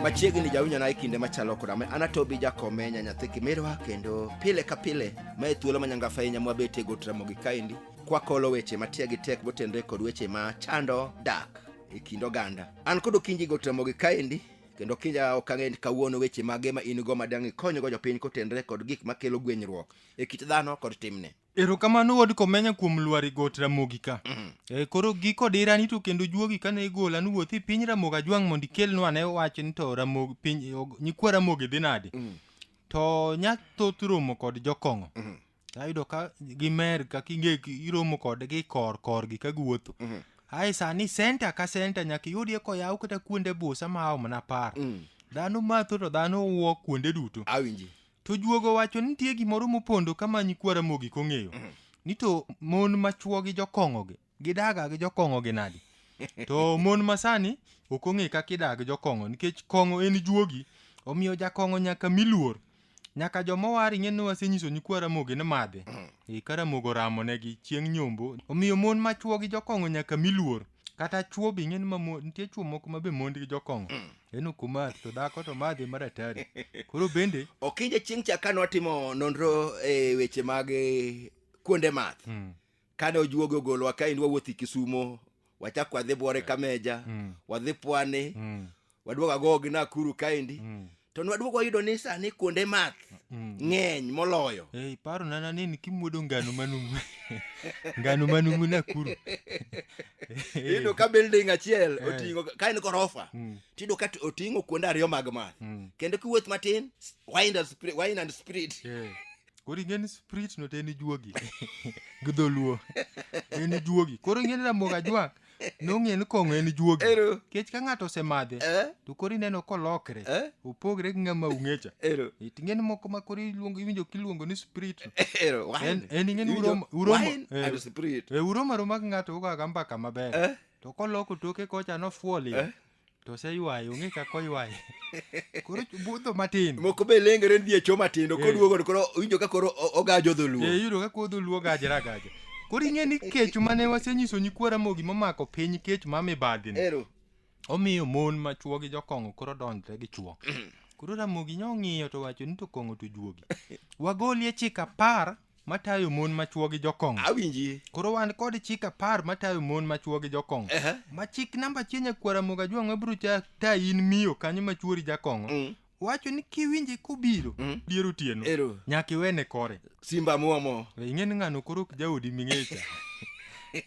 machiegni jawinjona e kinde machalo koda ma anatobi jakomenya nyathi kimirwa kendo pile ka pile ma e thuolo manyangafa ahinya mwabete go tramogi kaendi kwakolo weche matiagi tek motenre kod weche ma chando dak e kind oganda an kod okinji go tramogi kaendi kendo kinja ok ang'e ni kawuono weche mage ma in go ma dang' ikonygo jopiny kotenre kod gik makelo gwenyruok e kit dhano kod timne erokamano wod komenya kuom lwari got ramogi ka mm. e, koro giko dirani to kendo juogi kane igola nuwuothi e piny ramogi ajwang' mondo ikelnwa ne wach ni to ramogi piny nyikwa ramogi dhi nade mm. to nya thoth romo kod jokong'o mm. ayudo ka gimer ka kinge iromo kodgi kor korgi ka guwuotho Mhm. ae sani senta ka senta nyaka iyudie koyaw kata kuonde busa ma ao mana par Mm. dhano matho to dhano wuo kuonde duto awinji to juogo wacho ni nitie gimoro mopondo ka manyi kwara mogik ong'eyo ni to mon machuo gi jokong'ogi gidaga gi jokong'o gi nadi to mon masani ok ong'e kaka idaga gi jokong'o nikech kong'o en juogi omiyo jakong'o nyaka miluor nyaka jomowar ing'e ni wasenyiso nyikwa ramogi ni madhe e ka ramogo ramo negi chieng' nyombo omiyo mon ma chwo gi jokong'o nyaka miluor kata chwo be ing'e ni mamo nitie chwo moko ma be mond gi jokong'o en ok omadh to dhako to madhe maratari koro bende okinja chieng' cha kane watimo nonro e weche mag eh, kuonde math mm, kane ojuoge ogolowa ka endi wawuothi kisumo wachak wadhi bwore kameja mm. wadhi pwani mm. waduog agogi nakuru kaendi mm. to nwaduog wayudo ni sani kuonde math mm. ng'eny moloyo hey, paro nana nini kimwodo ngano manumu ngano manumu nakuru iyudo ka building achiel eh. oting'o ka en gorofa mm. tiyudo ka oting'o kuonde ariyo mag math mm. kendo kiwuoth matin wine and spirit, wine and spirit. Yeah. koro ing'e ni sprit no te en ijuogi gi dholuo en ijuogi koro ing'e ni ramogi ajwang' nong'e ni kong'o en ijuogi Ero. kech ka ng'ato osemadhe Eh? to koro ineno kolokre Eh? opogre gi ng'ama ung'echa Ero. ing'e ni moko ma koro iluongo iwinjo kiluongo ni sprit no Ero. Wine. En- en ing'e ni Iwinjo? uromo- uromo- Wine eh. and spirit. e uroma roma gi ng'ato ugoga mbaka maber Eh? to koloko toke kocha nofuoli Eh? to oseywaye ong'e kaka oywaye koro budho matin moko be lengere ni dhi e choo matindo Eh. koduogo to koro owinjo ka koro o- ogajo dholuo e yudo ka kodho luo gajra agaja koro ing'e ni kech mane wasenyiso nyikwa ramogi momako piny kech ma mibadhi ni ero omiyo mon ma chwo gi jokong'o koro donjre gi chwo koro ramogi nyo ng'iyo to wacho ni to kong'o to juogi wagolie chik apar matayo mon ma chwo gi jokong'o awinji koro wan kod chik apar matayo mon ma chwo gi jokong'o Ehe. ma chik namba achiel nyakwara moga jwang'o abiro cha ta in miyo kanyo ma chwori jakong'o Mm. wacho ni kiwinje kobiro Mm. dier otieno Ero. nyaka iwene kore simba muomo We ing'e ni ng'ano koro ok jaodi ming'echa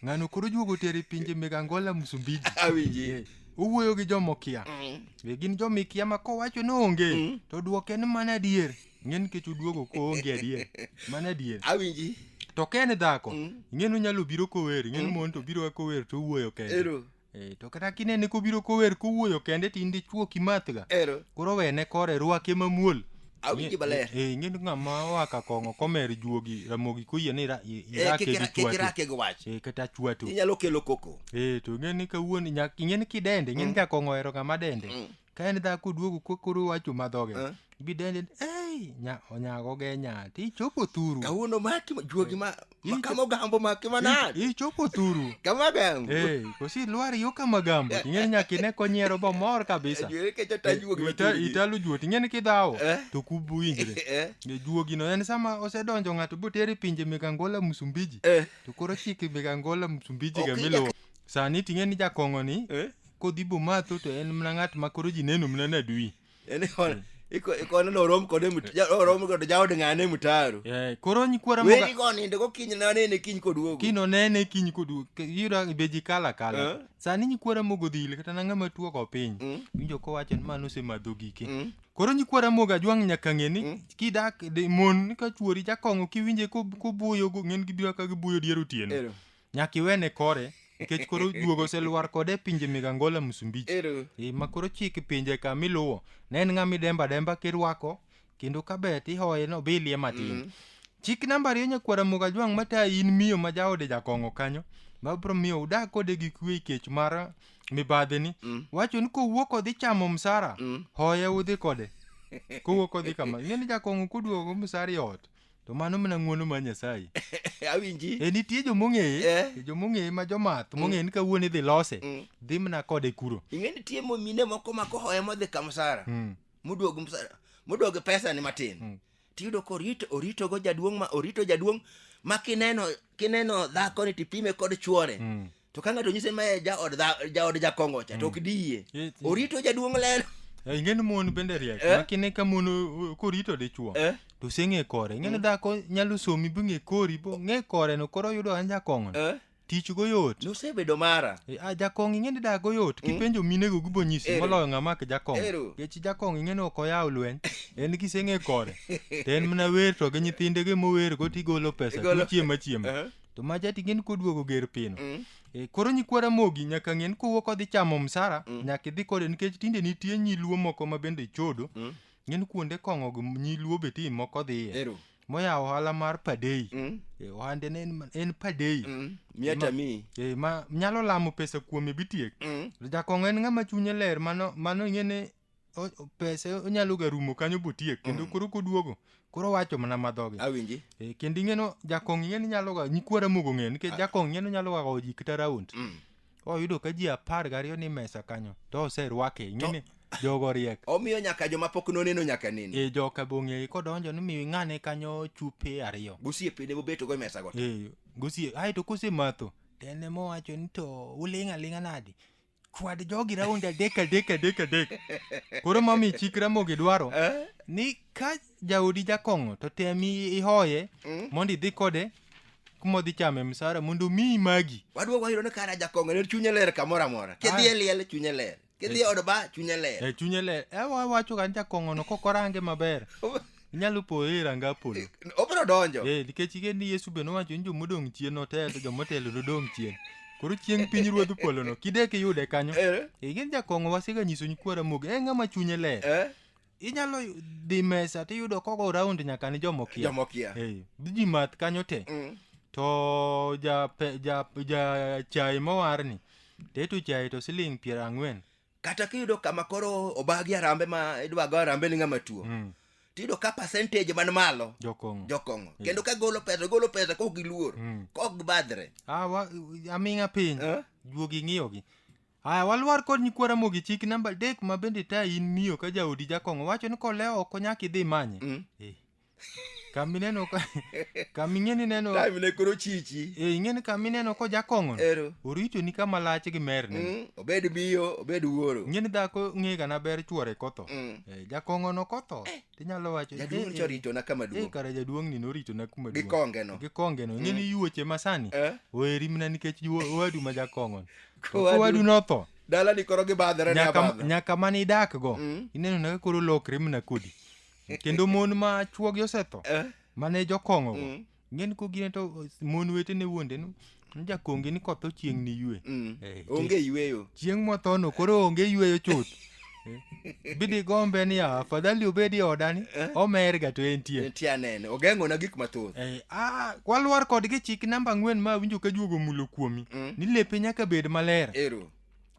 ng'ano koro juogo tero e pinje meg angola msumbiji awinji owuoyo gi jomokia Mm. be gin jomikia ma kowacho ni onge to dwoke ni mana adier ing'e nikech uduogo koonge adier mano adier awinji to ka en dhako Mm. ing'e ni onyalo biro kower ing'e ni Mm. mon to biro kower to owuoyo kende ero Eh, to kata kinene kobiro kower kowuoyo kende to in dichuo kimathga ero koro wene kore rwake mamuol awinji maler Eh, ing'e ni ng'ama oa ka kong'o komer juogi ramogi koyie ni ra- i- Eh, irake kik gi ra- kik chwatu irake gi wach Eh, kata chwatu inyalo kelo koko Eh, to ing'e ni kawuono nyak- ing'e ni kidende ing'e ni Mm. jakong'o ohero ng'ama dende Mm. ka en dhako duogo ko- koro wacho madhoge Eh. bidende ei nya- onyago ge nya ti chopo thuru kawuono maki juogi ma Ih, ma kama ogambo maki manade I- ichopo thuru kama gambo Eh, kosi lwar yo kama gambo ting'eni nyaka ine konyiero bomor kabisa juere ke jata juogi ma Ita- chunygi. italo juo ting'eni kidhawo Eh. to kubu winjre Eh, E, juogino en sama osedonjo ng'ato botere pinje mek angola msumbiji eh, to koro chike mek angola msumbiji Ok, ga miluwo sani ting'eni jakong'oni eh. kodhi bomatho to en mna ng'at ma koro ji neno mna nadui En ikon- iko- ikone norom kode mut- ja- orom kod jaod ng'ane mutaro Eh, koro nyikwara moga weri konindo gokinyi nanene kiny koduogo kino nene kiny kodu yuda be ji kala Eh. kala sani nyikwara mogo dhil kata na ng'ama tuo ko piny Mm. winjo kowacho ni mano osemadho gike Mm. koro nyikwara moga jwang' nyaka ng'e ni kidak de- mon ka chuori jakong'o kiwinje ko- kobuoyo go ng'en gibiro ka gibuoyo dier otieno Ero. nyaka iwene kore nikech koro juogo oselwar kode e pinje meg angola msumbiji Ero. e ma koro chik pinje ka miluwo ne en ng'ama idemba demba kirwako kendo ka bet ihoye no bilie matin chik namba ariyo nyakwara moga jwang' mata in miyo ma jaode jakong'o kanyo ma bro miyo udag kode gi kwe kech mar mibadhi ni wacho ni kowuok odhi chamo msara hoye udhi kode kowuok odhi kama ing'e ni jakong'o koduogo msara e ot To mano mana ng'uono mar Nyasaye. Awinji. E nitie jo mong'eye, Eh. e jo mong'eye ma jomath mong'eye ni kawuono idhi lose, Mm. dhi mana kode kuro. Ing'e nitie mo- mine moko ma kohoye modhi ka msara. Mm. Moduog msara. Moduog pesa ni matin. Mm. Tiyudo ka orito, oritogo jaduong' ma orito jaduong' ma kineno kineno dhako ni tipime kod chuore. Mm. to ka ng'ato nyise mae jaod dha- jaod jakongo cha to ok diye Eh, ti- orito jaduong' lelo Eh, ing'eni mon bende riek Eh? makine ka mon o- o- korito dichuo Eh? to oseng'e kore ing'eni dhako nyalo somi bing'e kori bo ng'e kore no koro oyudo an jakong'o Eh? tich go yot nosebedo mara Eh, ah, jakong' ing'eni dak go yot kipenjo minego gibo nyisi Ero. moloyo ng'ama ki jakong' Ero. kechi jakong' ing'eni ok oyaw lweny en kiseng'e kore to en mana wer to gi nyithinde gi mower go tigolo pesa Igolo- tichiema chiema Eh? to ma jati ng'en koduogo ger pino Mm. e, koro nyikwa ramogi nyaka ng'en kowuok odhi chamo msara Mm. nyaka idhi kode nikech tinde nitie nyiluo moko ma bende chodo Mm. ng'en kuonde kong'o gi nyiluo be tim moko dhiye Ero. moyawo ohala mar padei Mm. e, ohande ne en, en padei Mm. Miata mi. e, ma nyalo lamo pesa kuome bitiek Mm. jakong'o en ng'ama chunye ler mano mano ing'ene o- pese onyalo ga rumo kanyo botiek kendo koro koduogo koro wacho mana madhoge awinji Eh, kendo ing'eno jakong ing'eno inyalo ga nyikwara mogo ng'e nikech jakong ing'eno inyalo ga gowo ji kata raund Mm. oyudo ka ji apar gariyo ni mesa kanyo to oserwake ing'eni jogo riek omiyo nyaka joma pok noneno nyaka nini e joka bong'eyi kodonjo ni miyo ing'ane kanyo chupe ariyo gosiepene mobeto go e mesa go Eh, gosie aeto kosematho to en ema owacho ni to uling' aling'a nadi chwad jogi raund adek adek adek adek koro mami chik ramogi dwaro Eh? ni ka jaodi jakong'o to tem i- ihoye Mm. mondo idhi kode kuma odhi chame msara mondo miyi magi waduogo wayudo ni kara jakong'o ne chunye ler kamoro amora kidhi e liel chunye ler kidhi e od ba chunye ler e chunye le e wa- wacho ga ni jakong'ono kokorange maber inyalo poyo e ranga polo Eh, obiro donjo Eh, nikech ing'e ni yesu be nowacho ni jomodong' chien otel to jomotelo nodong' chien koro chieng' piny ruodh polono kidek iyude kanyo Eh, ing'e ni jakong'o wasega nyiso nyikwa ramogi en ng'ama chunye ler eh, inyalo dhi mesa tiyudo kogo raund nyaka ni jomokia jomokia Eh, ji math kanyo te Mm. to ja, pe, ja, ja chai mowarni teto chai to siling piero ang'wen kata kiyudo kama koro obagi arambe ma idwa go arambe ni ng'ama tuo Mm. tiyudo ka percentage man malo Jokong'o. jokong'o kendo ka golo pesa golo pesa kok giluor Mm. kok gibadhre Ah, wa- aming'a piny Eh? juogi ng'iyogi aya walwar kod nyikwara mogi chik namba adek ma bende ta in miyo ka jaodi jakong'o wacho ni kolewo ok onyaka idhi manye Mm. Eh, kamineno ka kaming'eni neno time ne koro chichi e ing'eni kamineno ko jakong'ono ero orito ni kama lach gi merne Mm, obed miyo obed wuoro ing'eni dhako ng'ega na ber chwore kotho Mm. e, jakong'ono kotho tinyalo wacho jaduong' "Eh, eh, choritona kama eh, duong' kare jaduong' ni norito na kuma gi duong' kongeno gi kongeno ing'eni yuoche masani Eh? oheri mna nikech juo- owadu ma jakong'ono Kowadu- owadu notho dalani koro gibadhore ne nyaka, abadha nyaka mane idakgo Mm. ineno na ka koro lokre mna kodi kendo mon ma chuogi osetho Eh. mane jokong'o go Mm. ng'en ko gine to mon wetene wuonde no jakonge ni koth ochieng' ni yue Mm. Eh, onge yweyo chieng' mothono koro onge yweyo chuth Eh, bidi gombe ni "Ah, afadhali obedi e odani Eh. omerga to entie nitie anene ogeng'ona gik mathoth Eh, ah, walwar kodgi chik namba ang'wen ma winjo ka juogo mulo kuomi Mm. ni lepe nyaka bed maler ero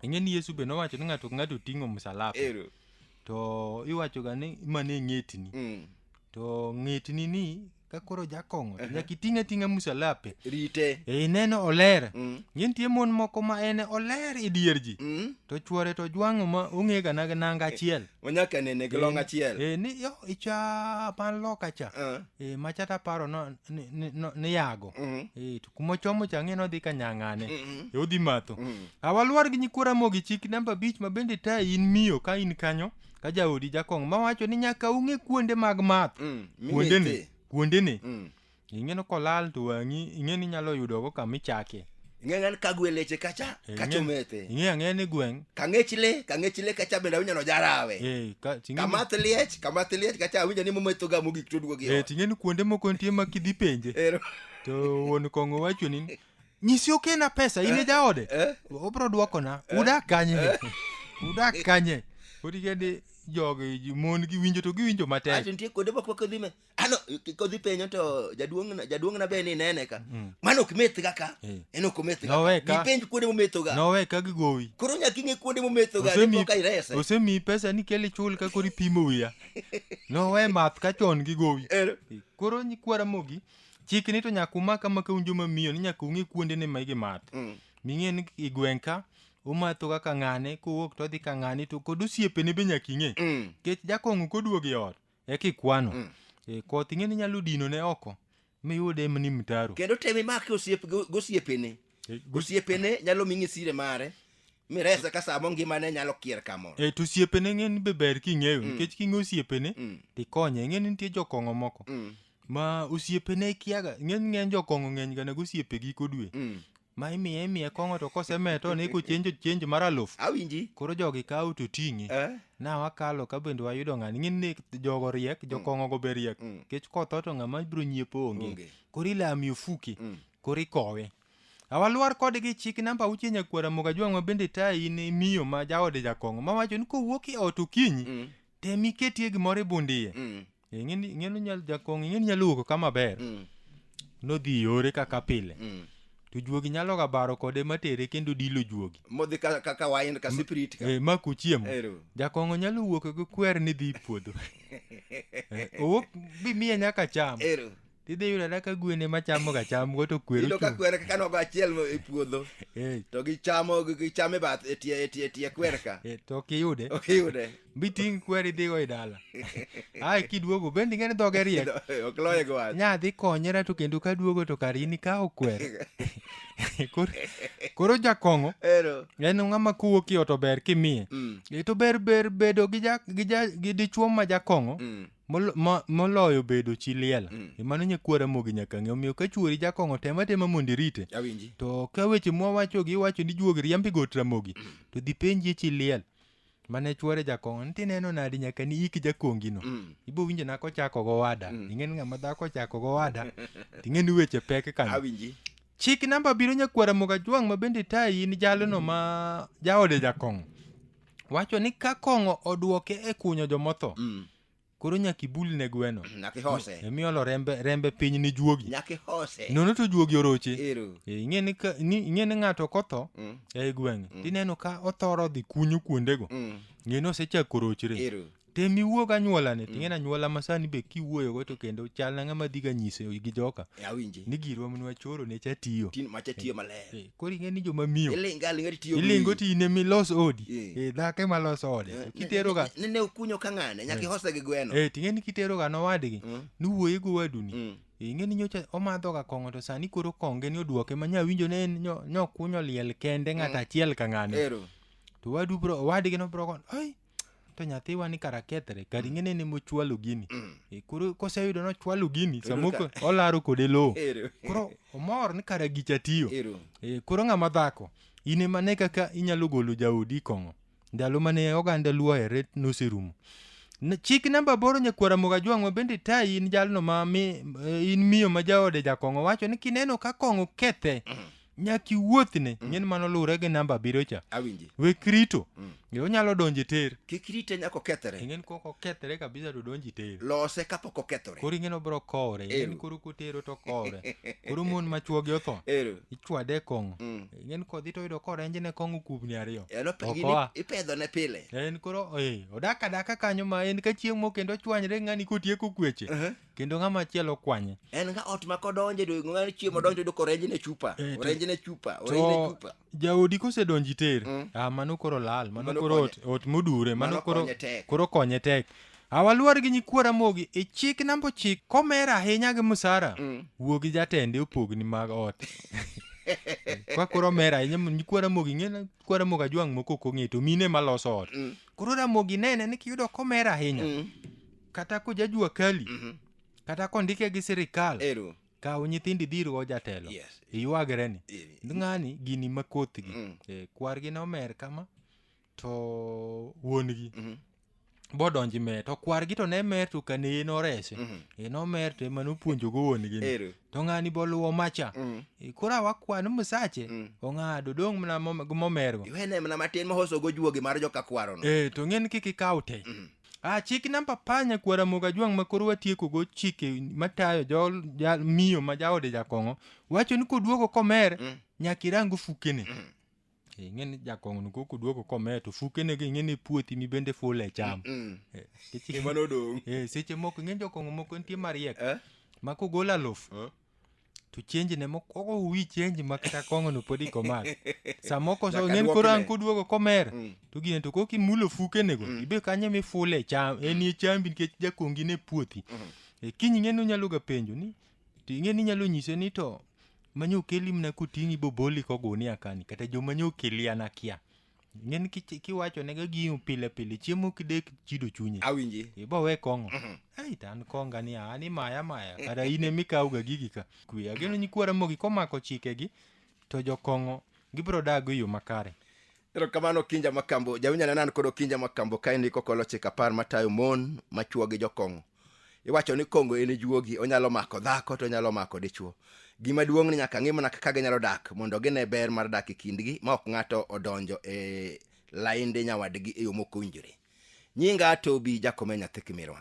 ing'e ni yesu be nowacho ni ng'ato ka ng'ato ting'o msalapa ero to iwachoga ni mane ng'etni Mm. to ng'etni ni ka koro jakong'o to nyaka iting' ating'a musalape rite e ineno oler Mm. ng'e nitie mon moko ma en oler e dier ji Mm. to chwore to jwang'o ma ong'ega na nanga achiel onyaka nene gi long achiel e ni yo icha man loka cha Ah. e macha taparo no- ni- ni- no- niyago Mhm. e to kuma ochomo cha ang'e ni odhi kanyang'ane e odhi matho awalwar gi nyikwa ramogi chik namba abich ma bende ta in miyo ka in kanyo ka jaodi jakong' mawacho ni nyaka ung'e kuonde mag math Mm, kuonde ni mimethe. kuonde ni Mm. ing'e ni kolal to wang'i ing'e ni inyalo yudogo kama ichake ing'eyan kagwe leche kacha Eh, kacha ing'e- omethe ing'e ang'e ni gweng' kang'ech le kang'ech le kacha bende awinjo nojarawe eh, ka- ting'e ni- kamath liech kamath liech kacha awinjo ni momethoga mogik toduogi eh, ting'e ni kuonde moko nitie ma kidhi penje Ero. to wuon kong'o wacho ni nyisi okena pesa in e jaode obro dwokona udak kanye udak kanye otikende jogi ji- mon gi winjo to giwinjo matek ato nitie kuonde moko kodhi me ano k- kodhi penyo to jaduong'na jaduong'na be ni nene ka mano ok methga ka Eh. en ok omethga Nowe ka. penj kuonde momethoga nowe ka gigowi koro nyaka ing'e kuonde momethoga Osemi- dipo ka irese osemiyi pesa ni kel ichul ka koro ipimo wiya nowe math ka chon gigowi Ero. koro nyikwara mogi chik ni to nyaka umak ama ka un joma miyo ni nyaka ung'e kuonde ne ma igimath Mm. ming'e ni i gweng' ka umatho kaka ng'ane kowuok to odhi ka ng'ane to kod osiepene be nyaka ing'e Mm. nikech jakong'o koduogo e ot eka ikwano Mm. e, koth ing'e ni nyalo dino ne oko miyud em ni mtaro kendo tem imake osiep go- gosiepene E, gos- osiepene nyalo ming'e sire mare mirese ka samo ngimane nyalo kier kamoro e to osiepene ng'e ni be ber king'eyo nikech king'e osiepene Mm. tikonye ng'e ni nitie jokong'o moko Mm, ma osiepene kiaga ng'eny ng'eny jokong'o ng'eny ga nego osiepe giko dwe mm. ma imiye imiye kong'o to kosemeto ne kochenjo chenjo mar aluf awinji koro jogi kawo to ting'e Eh, na wakalo ka bende wayudo ng'ani ng'e ni jogo riek jokong'o go be riek Mm. kech kotho to ng'ama biro nyiepo onge Onge. koro ilami ofuki Mm. koro ikowe Awalwar kode gi chik namba auchiel nyakwara moga jwang' ma bende tayi ni miyo ma jaode jakong'o ma wacho ni kowuok e ot okinyi Mm. tem iketie gimoro e bundiye Mm. ing'eni ing'eni nyal jakong'o ing'eni nyalo wuok ka maber Mm. nodhi yore kaka pile Mm. to juogi nyalo ga baro kode matere kendo dilo juogi modhi ka, ka, ka wain ka spirit ka e, ma kuchiemo Ero. jakong'o nyalo wuok gi kwer ni dhi puodho Eh, owuok bimiye nyaka cham ero Tidhi yudo ada ka gwen ema chamoga chamgo to kwer Iyudo ka ochung'. kwer kaka nogo achiel mo- e puodho Eh, to gichamo gichamo e bath e tie e tie e tie kwer ka. eh, to ok iyude. Ok iyude. Biting' kwer idhigo e dala. Ae kiduogo bende ing'e ni dhoge riek. Ok loye gi wach. Nya dhi konyera to kendo ka duogo to kar in ikawo kwer. Koro- Koro jakong'o Ero. en ng'ama kowuok i ot ober kimiye. Mm. E to ber ber bedo gi ja- gi ja- gi dichwo ma jakong'o Mm. Molo- mo- moloyo bedo chi liel Mm. e mano nyakuo ramogi nyaka ng'e omiyo ka chuori jakong'o tema tema mondo irite awinji to ka weche mwawachogi iwacho ni juog riambi got ramogi to dhi penjie chi liel mane chuore jakong'o ni tineno nadi nyaka ni ik jakongino Mm. ibo winjo nako ochako gowada Mm. ing'eni ng'ama dhako ochako gowada ting'eni weche pek kanyo awinji chik namba biro nyakuara moga jwang' ma bende tayi in jalono ma jaode jakong'o wacho ni ka kong'o odwoke e kunyo jomotho Mm. koro nyaka ibul ne gweno Nyaka ihose. emiolo rembe rembe piny ni juogi Nyaka ihose. nono to juogi oroche Ero. Eh, ing'e ni ka- ni- ing'e ni ng'ato kotho Mm. ei gweng' tineno ka othoro dhi kunyo kuondego Mm. ng'e ni osechako rochre Ero. tem iwuog anyuolane ting'en anyuola ma sani be kiwuoyogo to kendo chal na ng'ama dhiga nyise gi joka E, awinji ni girwa mnwa choro ne chatiyo tin macha tiyo maler Eh, koro ing'e ni joma miyo ilinga linga tiyo ilingo ti in emi los odi Eh. Eh, dhako ema los ode To kiteroga ne ne ukunyo ka ng'ane nyaka ihose gi gweno eh, ting'e ni kiteroga nowadgi Mm. niwuoye gi owaduni Mm. Eh, ing'e ni nyocha omadhoga kong'o to sani koro konge ni odwoke ma nyawinjo ne en nyo- nyokunyo liel kende ng'ato achiel ka ng'ane ero to wadu bro owadgi no bro kon ai to nyathi wani kara kethre kar ing'ene ni mochwalo gini E, koro koseyudo nochwalo gini samoko ka- olaro kode lowo Ero. koro omor ni kara gicha tiyo Ero. E, koro ng'ama dhako in ema ne kaka inyalo golo jaodi e kong'o ndalo mane oganda luo ohere noserumo N- chik namba aboro nyakwara moga jwang'wa bende tayi in jalno ma mi, eh, in miyo ma jaode jakong'o wacho ni kineno ka kong'o kethe nyaka iwuothne mm. ng'en mano luwre gi namba abiriyo cha awinji wek rito mm. e onyalo donjo e ter kik rite nyaka okethre ing'en kok okethre kabisa to donjo e ter lose kapok okethore koro ing'en obiro kowre ing'en koro kotero to kowre koro mon ma chuogi otho ichwade e kong'o mm. ing'en kodhi to oyudo korenjne kong'o kubni ariyo okoa ipedhone pile en koro eh, odak adaka kanyo ma en ka chieng' mo kendo ochwanyre ng'ani kotieko kweche uh-huh. kendo ng'ama chielo kwanye en ka ot ma kodonje do ng'ani chiemo donjo do korenje ne chupa Eh, to- orenje ne chupa orenje ne to chupa jaodi kosedonji ter Mm. ah, mano koro lal mano Mano koro ot, ot modure mano Mano koro konye tek. koro konye tek awaluor gi nyikwara mogi e chik namba ochik komer ahinya gi musara Mm. wuo gi jatende opogni mag ot kwa koro mer ahinya mo- nyikwara mogi ng'e kwara mogi ajwang' moko ok ong'e to mine maloso ot Mm. koro ramogi nene ni kiyudo komer ahinya Mm. kata koja jua kali Mhm. kata kondike gi sirikal Ero. kaw nyithindi dhi irgo jatelo Yes. iywagre ni Eh, ng'ani gini ma kothgi Mm. Eh, kwargi nomer kama to wuon-gi Mhm. bodonji mer to kwargi to ne mer to kane en orese Mhm. en omer to ema nopuonjogo wuon-gi ni. Ero. to ng'ani boluwo macha Mm. Eh, koro awakwan musache Mm. ong'ado dong' mana mom- momergo Iwene mana matin mohoso go juogi mar joka kwarono. Eh, to ng'en kik ikaw te Mhm. Ah, chik namba apar nyakwar Ramogi Ajwang' ma koro watiekogo chike matayo jol- ja- miyo ma jaode jakong'o wacho ni koduogo komer Mm. nyaka irang ofukene Mm. Eh, ing'e ni jakong'ono ko koduogo komer to fukene gi ing'e ni puothi mi bende ful e cham Mm. Eh, nikech- Ema nodong'. Eh, seche moko ing'e jokong'o moko nitie mariek Eh? ma kogolo alof Eh? to change ne mokwongo uwi change ma kata kong'o no pod ikomak samoko so Nyaka ng'en duokne. koro an kuduogo komer Mm. to gine to koki mulo fukenego Mm. ibe kanye mifule e cham en e chambi nikech jakongi ne puothi Mhm. e kiny ng'eni onyalo ga penjo ni to ing'eni inyalo nyise ni to manye okeli mna kuting'i boboli kogunia kani kata joma nye okeli an akia ng'eni ki- kiwachonega giu pile pile chiemo kidek chido chunye awinji ibo we kong'o ei to an konga ni an imaya maya kata in ema ikawga gigi ka kwe ageno nyikwa ramogi komako chikegi to jokong'o gibiro dago e yo makare erokamano kinja makambo jawinjana nan kod okinja makambo kae ndiko kolochik apar matayo mon machwo gi jokong'o iwacho ni kongo en juogi onyalo mako dhako to onyalo mako dichuo gima duong' ni nyaka ng'i mana kaka ginyalo dak mondo gine ber mar dak e kindgi ma ok ng'ato odonjo e lainde nyawadgi e yo mok owinjore nyinga tobi jakome nyathi kimirwa